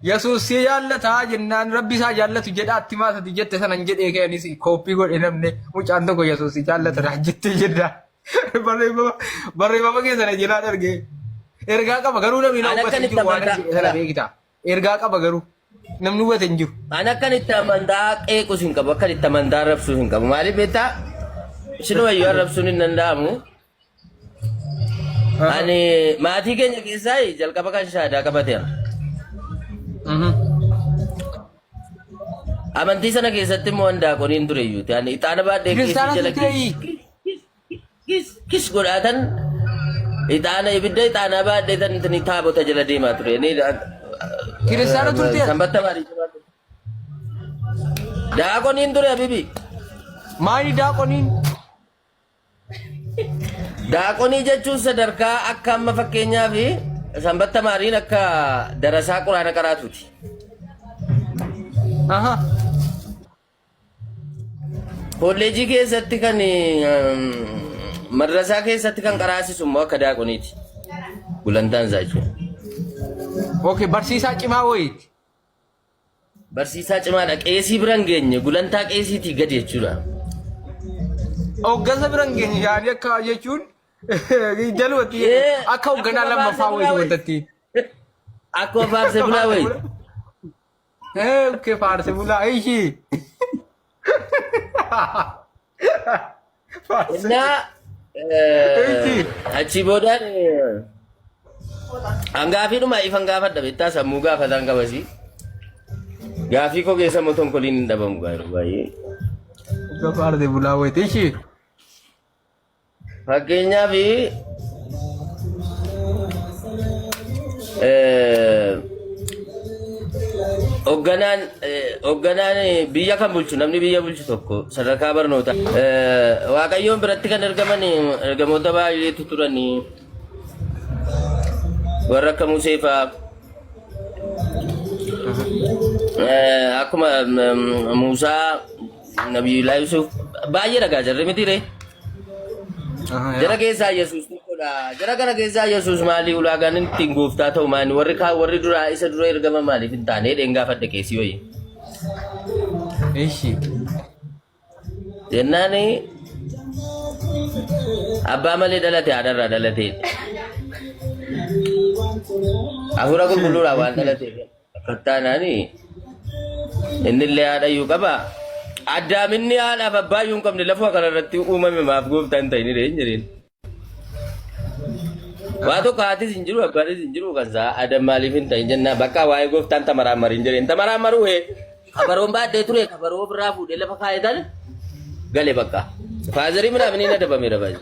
Yesuus si jaallataa jennaan rabbi isaa jaallatu jedha atti maa sati jette sanan jedhee keenis kooppii godhe namne mucaan tokko Yesuus si jaallata naa jettee jedha. Barreeffama barreeffama keessa na jalaa darge. Ergaa qaba garuu namni na Ana hubate hin akkamitti jiru waan amantaa? jedhe sana beekita. Ergaa qaba garuu namni hubate hin jiru. An akkan itti amantaa qeequs hin qabu, akkan itti amantaa arrabsuus hin qabu. Maaliif beektaa? Isinuma iyyuu arrabsuun hin danda'amu. Ani maatii keenya keessaa jalqaba kan shaadaa qabateera. Amantii sana keessatti immoo handaaqoniin ture iyyuu ta'an ixaana baadhee Kiristaana jala turteeyi. kis godhaatan ixaana ibidda ixaanaa baadhee tan tan taabota jala deemaa ture. Ni Kiristaana turteera. Sanbatta maatii jala ture. Daaqoniin ture abibi. Maali daaqoniin? Daaqonii jechuun sadarkaa akka amma fakkeenyaa fi sanbatta maariin akka darasaa quraana qaraatuuti. Aha. Kolleejii keessatti kan ehm, madrasaa keessatti kan qaraasisu immoo akka daaqoniiti. Gulantaan isaa jechuudha. Okay, barsiisaa cimaa wayiiti. Barsiisaa cimaadha. Qeesii bira hin geenye. Gulantaa qeesiitii gadi jechuudha. Hooggansa bira hin geenye yaadii akka jechuun jalumatti akka hoogganaa lammaffaa wayii wantatti. Akkuma faarse bulaa wayi. Okkee faarse bulaa ishii. እና achii boodaan hangaafiidhuma ifan gaafadha beektaa sammuu gaafataan qabasii gaafii koo keessa immoo tonkoliin hin dhabamu gaariidha baay'ee. Gabaarde bulaa wayitee ishee. Fakkeenyaaf hogganaan hogganaan biyya kan bulchu namni biyya bulchu tokko sadarkaa barnootaa waaqayyoon biratti kan ergaman ergamoota baay'eetu turanii warra akka Musee fa'aa akkuma Muusaa Nabiyullah Yusuf baay'ee dhagaa jirre miti ree. Aha, Jara yaa. keessaa Yesuus tokkodha. Jara kana keessaa Yesuus maali ulaagaan inni ittiin gooftaa ta'u maali? Warri kaa warri duraa isa dura ergama maaliif hin taane? Dheen gaafadhe keessi wayii. Ishi. Jennaan abbaa malee dhalate haadharraa dhalatee. Hafuura qulqulluudhaan waan dhalateef. Fattaanaani innillee haadhayyuu qaba. Addaaminni haadhaaf abbaayyuu hin qabne lafuma kanarratti uumame maaf gooftaa hin ta'inidha hin jedheen. Waa tokko haatis hin jiru abbaanis hin jiru kan isaa adam maaliif hin ta'in jennaa bakka waa'ee gooftaan tamaraan marii hin jedheen tamaraan maruu hee kabaroon baadhee ture kabaroo ofirraa fuudhee lafa kaa'ee tan gale bakka. Faazarii midhaan inni na dabamee dabalee.